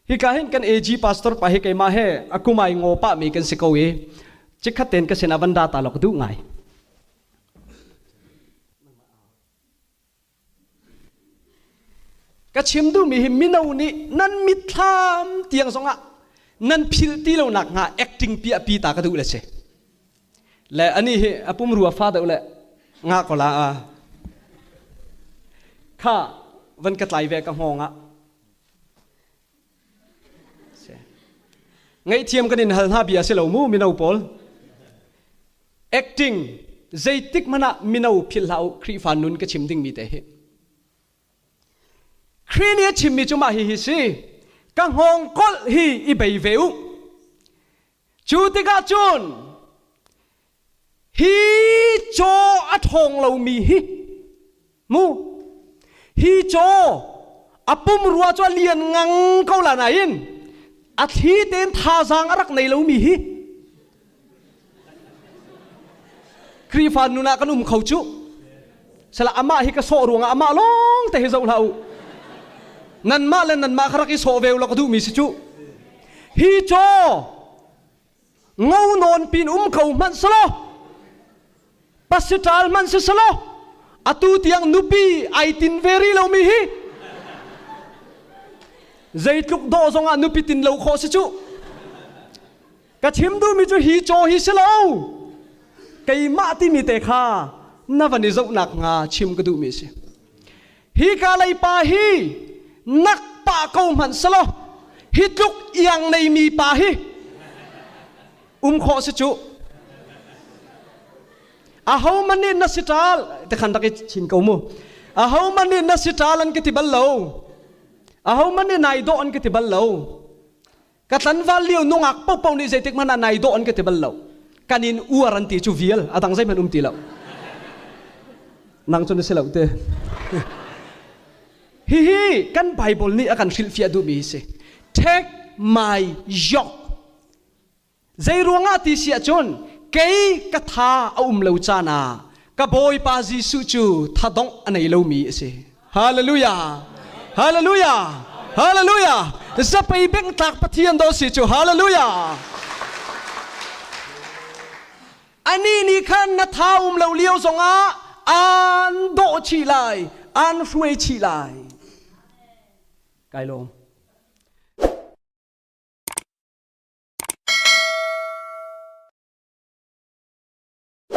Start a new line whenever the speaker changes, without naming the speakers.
Hika hin kan AG pastor pa hi keimah he a kum ai ngaw pahmi kan si ko i cikhat ten ka sinah van da ta law ka duh ngai. Ka chim duhmi hi mino nih nan mitthlam tiang zongah nan phil ti lonak hnga acting piahpi ta ka duh le si. Le anih hi a pumrua fa deuh le nga ko la a kha van ka tlai ve ka hngawng ah ngaihthiam kan in hal hna bia si lo mu mino pawl acting zeitik hmanh ah mino phil hlah u Khrihfa nun ka chim dingmi te hi Khrih nih a chimmi cu mah hi hi si ka hngawng kolh hi i bei ve u Cu tikah cun hi caw a ṭhawng lomi hi mu hi caw a pum rua cu a lian ngang ko la nain a thli tein thazaang a rak nei lomi hi Khrihfa nun ah kan um kho cuh. Salah amah hi ka sawh ruangah amah lawngte hi zoh hlah u. Nanmah le nanmah kha rak i sawh ve u law ka duhmi si cu. Hi caw ngo nawn pin um ko hmanh selaw pasiṭal hmanh si selaw atu tiang nupi ai tin ve rih lomi hi zeitluk dawh zongah nupi tin lo khawh si cu. ka chim duhmi cu hi caw hi si lo keimah timi te kha na van i zohnak hnga chim ka duhmi a si hi ka leipa hi nak pa ko hmanh selo hi tluk iang neimi pa hi um khawh si cu aho man nih na si ṭal te khan rak i chin ko mu aho man nih na si ṭal an ka ti bal lo aho man nih nai dawh an ka ti bal lo ka tlanval lio nungak pohpoh nih zeitik hmanh ah nai dawh an ka ti bal lo kan in uar an ti cu vial a dang zeihmanh um ti lo nang cu na si lo te hihi kan bible nih a kan hrilhfiah duhmi hi si take my yoke zei ruangah ti si ahcun kei ka tha a um lo caan ah ka bawipa jesuh cu thadongh a nei lomi a si Hallelujah! Hallelujah! Hallelujah! Zapei bengtlak Pathian do si cu hallelujah! Ani nih khan na tha um lo lio zongah aan dawh chih lai, aan hruai chih lai. Kai lawm.